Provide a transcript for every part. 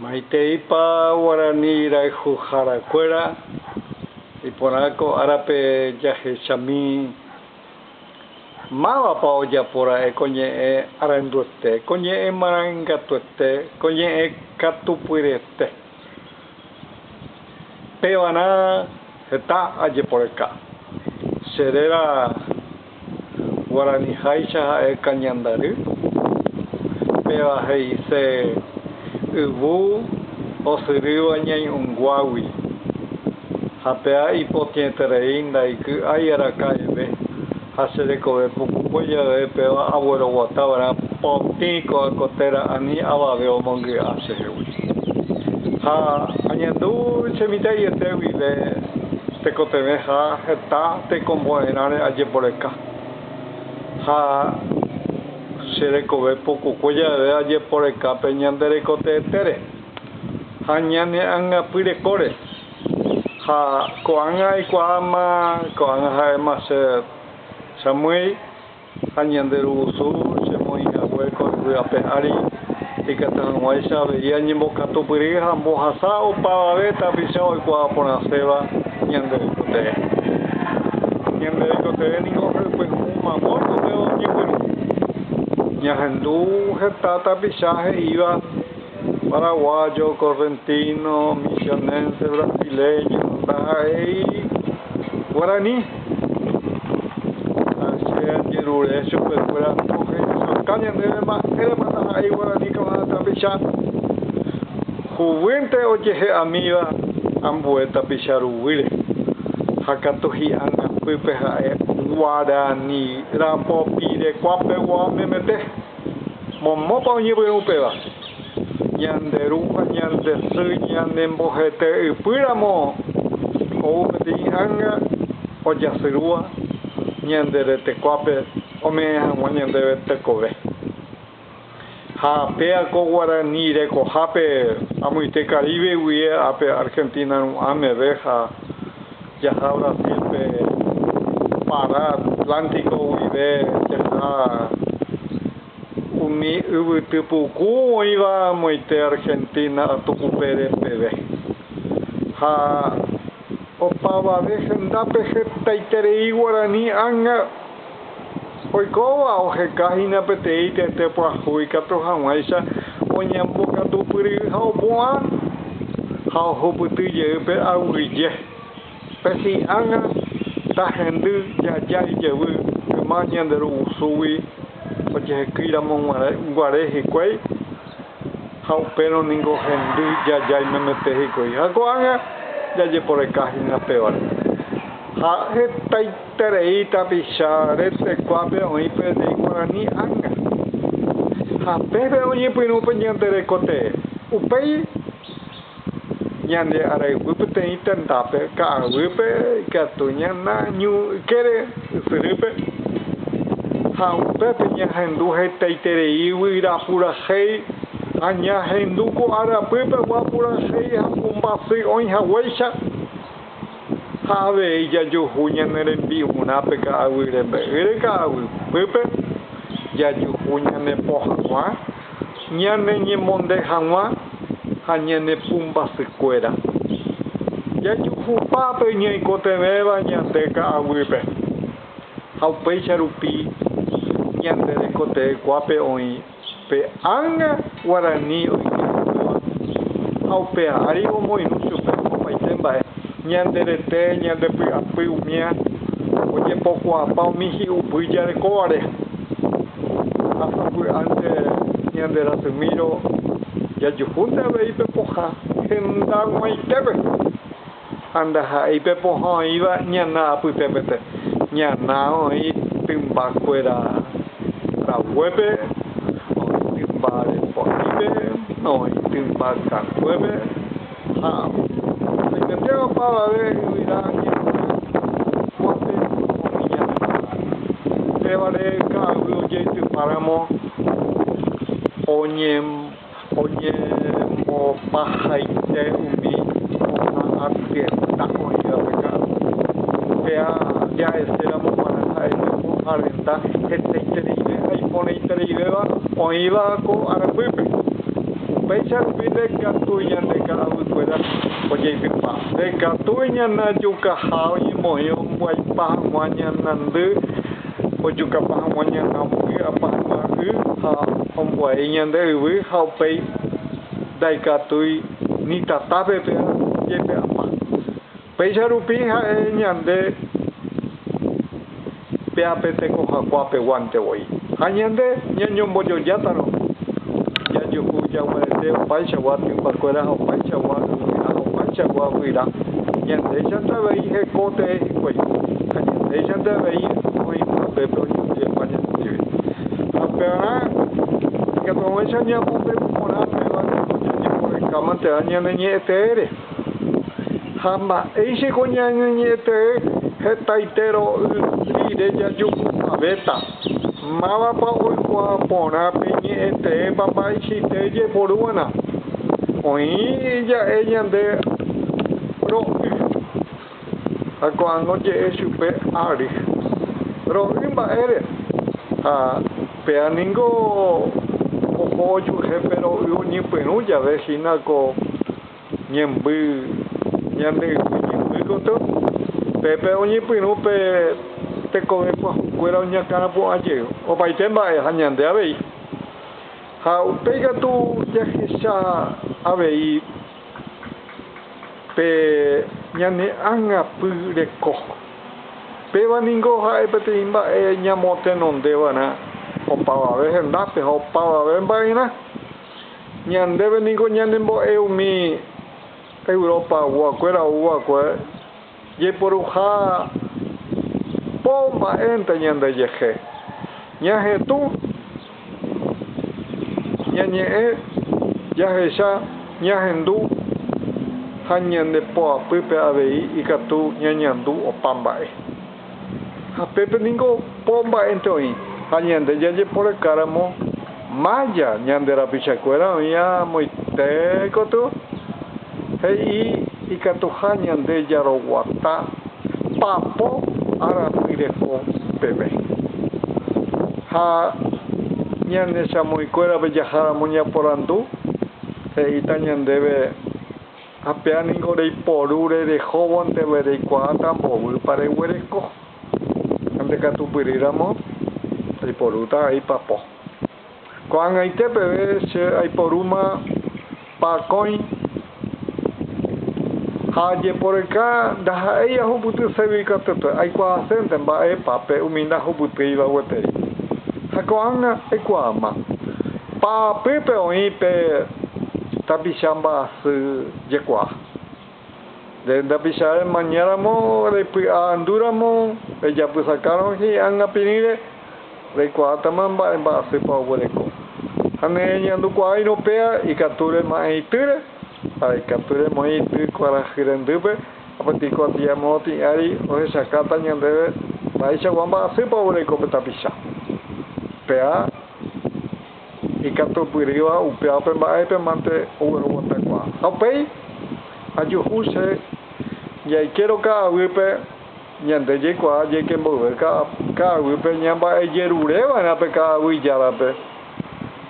Maiteipa guarani rayhuhára kuéra iporã ko árape jahechami? Mávapa ojapo ra'e ko ñe'ẽ aranduete, ko ñe'ẽ marangatuete, ko ñe'ẽ katupyryete? Pevarã heta ajeporeka. Che réra. Guarani háicha ha'e Cañandary, péva he'ise yvu osyrýva ñai'ũnguágui, ha péa ipotĩeterei ndaiky'ái araka'eve ha che rekove pukukue jave péva agueroguata va'erã potĩ ko'ã ko téra ani avave omongy'a chehegui. Ha añandu che mitã'iete guive tekotevẽ ha heta tekombo'erãre ajeporeka, ha che rekove pukukue jave ajeporeka pe ñande rekoteetére ha ñane angapy rekóre, ha ko'ág̃a aikuaáma ko'ág̃a ha'éma che amýi. Ha ñande rugusu chemoĩ hague ko yvy ape ári, ikatu hag̃uáicha avei añembokatupyry ha ambohasa opavave tapicha oikuaa porãséva ñande oikotevẽ. Ñande oikotevẽ ningo ha'ypy hũ mamói upéva oñepyrũ. Ñahendu heta tapicha he'íva. Paraguayo, correntino, misionense, brasileño, ndaha'éi guarani. Ha che ajerure chupekuéra ohechaukã ñandéve mba'érepa ndaha'éi guarani kava'erã tapicha. Juguýnte ojehe'amíva ambue tapicha ruguýre ha katu hi'angapýpe ha'e guarani rapopirekuapegua oñemete. Momópa oñepyrũ upéva? Ñande Ru ha ñande Sy ñanembohete'ypýramo ou peteĩ ánga ojasyrúva ñande retekoápe ome'ẽ hag̃ua ñandéve tekove. Ha péa ko guarani rekohápe amoite Caribe guie ápe Argentina ru'ã meve ha. Jaha Brasil pe Pará Atlántico guive tetã umi yvyty puku oĩva moite Argentina tukupére peve. Ha opavave hendápe hetaiterei guarani ág̃a. Oikóva oheka hína peteĩ tete pyahu ikatu hag̃uáicha oñembokatupyry ha opu'ã ha ohupyty jey pe aguyje. Pe sy ág̃a tahendy jaja ijevy yma ñande rugusu gui ojehekýiramo guare hikuái. Ha upérõ ningo hendy jajái memete hikuái. Ha ko'ág̃a jajeporeka hína pévare. Ha hetaiterei tapicha retekuápe oĩ peteĩ guarani ánga. Ha peve oñepyrũ pe ñande reko tee. Upéi. Ñande arayhu peteĩ tendápe ka'aguýpe ikatu ñanañu ykére ysyrýpe ha upépe ñahendu hetaiterei guyra purahéi ha ñahendu ko arapýpe gua purahéi ha ombasy'oĩ haguéicha. ha avei jajuhu ñane rembi'urãpe ka'aguy rembe'ýre ka'aguýpe jajuhu ñanepo hag̃ua, ñaneñemonde hag̃ua ha ñane pumbasykuéra. Jajuhupa pe ñaikotevẽva ñande ka'aguýpe ha upéicha rupi ñande rekotevẽkuápe oĩ. Pe ánga guarani oitypukúva ha upe ári omoirũ chupe opaite mba'e, ñande rete, ñande py'apy umía, ojepokuaapa umi hi'upy jarekóvare ha sapy'ánte ñande rasymírõ jajuhúnte avei pe pohã henda g̃uaitépe. Ha ndaha'éi pe pohã oĩva ñana apytépete, ñana oĩ tymba kuéra raguépe, oĩ tymba reporípe, oĩ tymba katuépe, ha oimete opavave yvyra ñe'õva kuápe oĩ ñane tata. Upévare ka'aguy ojeitypáramo oñem. Oñemopahaite umi ko'ã ardienta oĩvape ka'aru. Upéa jaheséramo g̃uarã ha'e japo ardienta hetaitereive ha iporãitereivéva oĩva ko arapýpe. Upéicha rupi ndekatu ñande ka'aguýkuéra ojeitypa. Ndekatúi ñanajukaha oñemoĩ ombyaipa hag̃ua ñanandy. Ojukapa hag̃ua ñana voi apa hag̃ua y ha ombo'ei ñande yvy ha upéi ndaikatúi ni tatápe pe jepe apa. Péicha rupi ha'e ñande pe ape tekohakuaa peguánte voi. Ha ñande ñañombojojátarõ jajuhu jaguarete opaichagua typakuéra ha opaichagua yvy ha opaichagua guyra, ñandéichanta avei heko tee hikuái. ha ñandéichante avei oĩ upépe oñembyepa ñandéve. Ha upearã ikatuaguẽicha ñamombe'u porã péva ningo ñañembo'ekáma térã ñane ñe'ẽ teére. Ha mba'éichiko ñane ñe'ẽ tee hetaite ro'y rire jajuhupavéta, mávapa oikuaa porã pe ñe'ẽ teépa mba'eichaite jeporúvana. Oĩ ja'e ñande ro'y. Ha ko'ág̃a oje'e chupe ári, Ro'y mba'ére, ha péa ningo oho ojuehe pe ro'y oñepyrũ jave hína ko ñemby ñande yvy ñemby gotyo, pépe oñepyrũ pe tekove pyahukuéra oñakãra pu'ã jey opaite mba'e ha ñande avei. Ha upéi katu jahecha avei. pe ñane ágapy reko. Péva ningo ha'e peteĩ mba'e ñamotenondeva'erã opavave hendápe ha opavave mba'erã. Ñandéve ningo ñanembo'e umi Europa guakuéra ou va'ekue. Jaiporuha po mba'énte ñandejehe, ñahetũ ñañe'ẽ, jahecha ñahendu ha ñande poapýpe avei ikatu ñañandu opa mba'e. Ha pépe ningo po mba'énte oĩ, ha ñande jajeporekáramo mája ñande rapichakuéra oĩva moite katu, he'i ikatuha ñande jaroguata papo arapy reko peve. Ha ñane chamoĩkuérape jaháramo ñaporandu, he'íta ñandéve. Ha péa ningo reiporu rerehóvonte va'e reikuaáta mboýpa reguereko. Ha nde katupyry ramo, aiporúta aipapo. Ko'ag̃aite peve che aiporúma pakõi ha ajeporyka ndaha'éi ahupyty ségui katuete, aikuaasénte mba'épa pe umi ndahupytýiva gueteri. Ha ko'ág̃a aikuaáma, pa'apýpe oĩ pe. Tapicha mba'asy jekuaa. Nde ndapicha remañáramo repy'aandúramo rejapysakárõ hi'ág̃a pirĩre, reikuaátama mba'e mba'asýpa oguereko. Ha ne reñandukuaáirõ péa ikatu rema'ẽ itýre, ha ikatu remoĩ ity kuarahy rendýpe, ha peteĩ kuatia moõ tĩ ári ohechakáta ñandéve mba'eichagua mba'asýpa oguereko pe tapicha. Péa. ikatupyrýva upéva pe mba'épe mante ogueroguatakuaa. Ha upéi ajuhu che jaikérõ ka'aguýpe ñande jaikuaa jaike mboyve ka'aguýpe ñamba'ejerureva'erã pe ka'aguy járape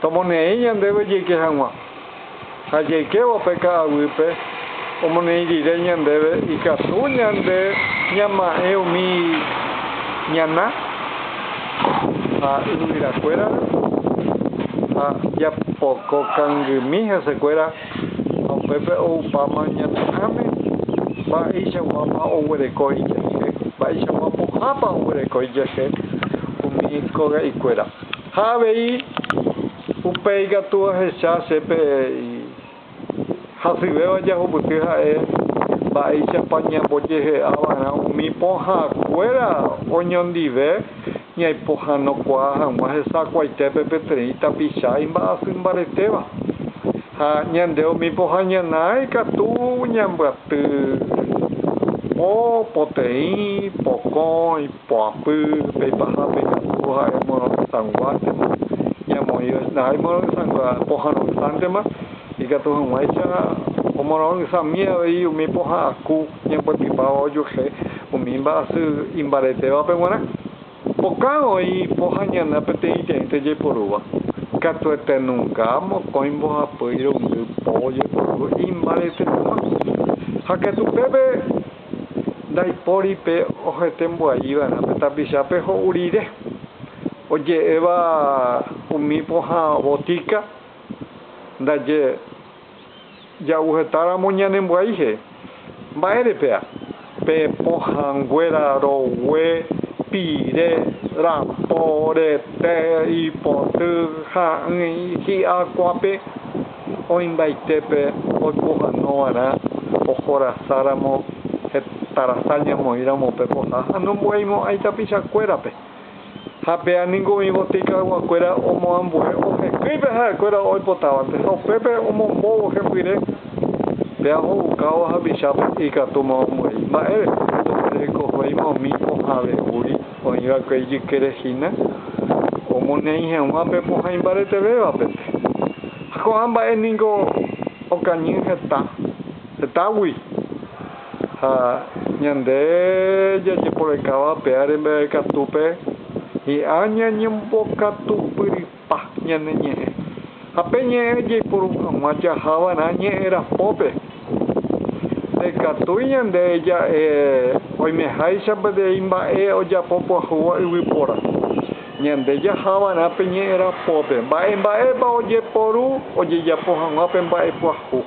tomoneĩ ñandéve jaike hag̃ua. Ha jaikévo pe ka'aguýpe, omoneĩ rire ñandéve ikatu ñande ñama'ẽ umi ñana ha yvyrakuérare, ha japoko kangymi hesekuéra, ha upépe oupáma ñane ãme, mba'eichakuápa oguereko ijehe, mba'eichagua pohãpa oguereko ijehe umi koga'ikuéra. Ha avei. Upéi ikatu ahecha che pe hasyvéva jahupyty ha'e mba'éichapa ñambojehe'a va'erã umi pohã kuéra oñondive ñaipohãnokuaa hag̃ua hesakuaitépe peteĩ tapicha imba'asy mbaretéva. Ha ñande umi pohã ñana ikatu ñambyaty po poteĩ, pokõi. Poapy pe paha pe ñapuku ha'e morotesãnguántema, ñamoĩrõita ha'e morotesãnguéva pohãnoisántema, ikatu hag̃uáicha omorõisami avei umi poha'ãku ñamboepipáva ojuehe umi mba'asy imbaretévape g̃uarã. Pokã oĩ po ha ñana peteĩteĩnte jaiporúva, katuete nunka mokõi mbohapy irundy po ojeporu imbaretetéma. Ha katu pépe. Ndaipóri pe ohetembuaiva'erã pe tapichápe ho'u rire, oje'éva umi pohã botíka ndaje ja'u hetáramo ñanembuai jey. Mba'ére péa? Pe pohãnguéra rogue, pire, rapo, rete, ipoty, ha'ỹi, hi'akuãpe. Oĩmbaitépe oipohanovarã ohorasáramo hetarasa ñamoĩramo pe poha ha nombo'aimo'ãi tapichakuérape. Ha péa ningo oĩ botikayguakuéra omoambue ohekýi pe ha'ekuéra oipotávape ha upépe omombóvo hepyre. Péa oho'ukávo hapichápe ikatúma omoĩ. Mba'érepa? Ndoguerekovéima umi pohãve guri. Oĩ va'ekue ijykére hína omoneĩ heg̃ua pe pohã imbaretevévape. Ha ko'ã mba'e ningo okañy heta hetágui. Ha ñande jajeporekáva pe áre mbeguekatúpe, hi'ã ñañembokatupyry. Pah ñane ñe'ẽ. Ha pe ñe'ẽ jaiporu hag̃ua jahava'erã ñe'ẽ rapópe. Ndaikatúi ñande ja'e oimeháicha peteĩ mba'e ojapo pyahuva yvypóra. Ñande jahava'erã pe ñe'ẽ rapópe mba'e mba'épa ojeporu ojejapo hag̃ua pe mba'e pyahu.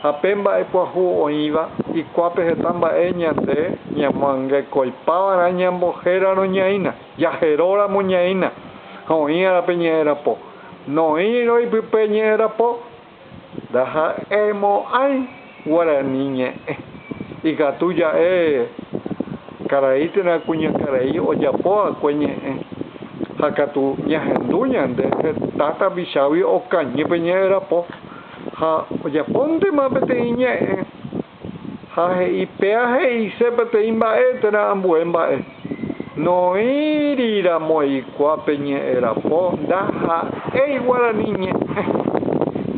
Ha pe mba'e pyahu oĩva ikuápe heta mba'e ñande ñamoangekoipava'erã ñambohérarõ ñaína. Jajeróramo ñaína ha oĩ árape ñe'ẽrapo, noĩrõ ipype ñe'ẽrapo, ndaha'eimo'ãi guarani ñe'ẽ. Ikatu ja'e karai térã kuñakarai ojapo va'ekue ñe'ẽ, ha katu ñahendu ñande heta tapichágui okañy pe ñe'ẽrapo ha ojapontema peteĩ ñe'ẽ. Ha he'i, Péa he'ise peteĩ mba'e térã ambue mba'e. Noĩri ramo eikuaa pe ñe'ẽ rapo, ndaha'éi guarani ñe'ẽ.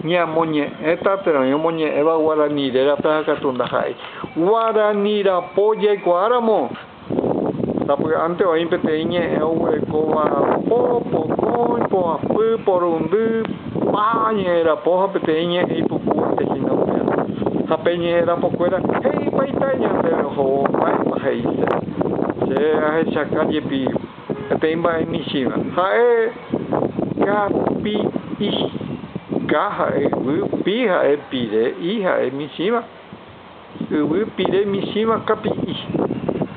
Ñamoñe'ẽta térã oĩ omoñe'ẽva guarani rérape ha katu ndaha'éi. Guarani rapo jaikuaa ramo. Sapy'ánte oĩ peteĩ ñe'ẽ oguerekóva po, pokõi, poapy, porundy, pa ñe'ẽ rapo ha peteĩ ñe'ẽ ipukuépe hína upérõ. Ha pe ñe'ẽ rapokuéra he'ípa itáicha ndéve ohóvo mba'épa he'ise. Che ahechaka jepi peteĩ mba'e michĩva. Ha'e kapi i, ka ha'e yvy, pi ha'e pire, i ha'e michĩva. Yvy pire michĩva kapi'i.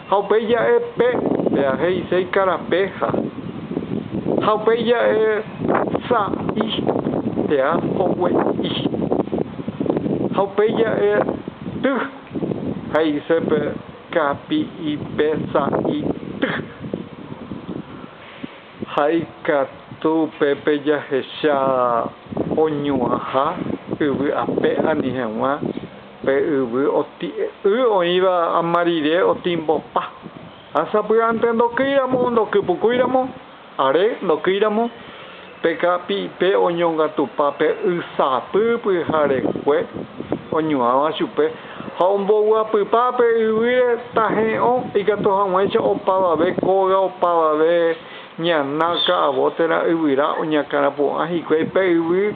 Ha upéi ja'e pe, péa he'ise ikarape ha. Ha upéi ja'e sa'i, péa hogue'i. Ha upéi ja'e ty, he'ise pe kapi'i pe sa'i ty. Ha ikatu upépe jahecha oñu'ãha yvy ape ani heg̃ua. Pe yvy oti'y oĩva ama rire otimbopa. Ha sapy'ánte ndokýiramo, ndokypukúiramo, are ndokýiramo, pe kapi'ipe oñongatupa pe y sapy pyharekue oñuãva chupe ha omboguapypa pe yvýre tahe'õ ikatu hag̃uáicha opavave kóga, opavave ñana, ka'avo térã yvyra oñakãrapu'ã hikuái pe yvy.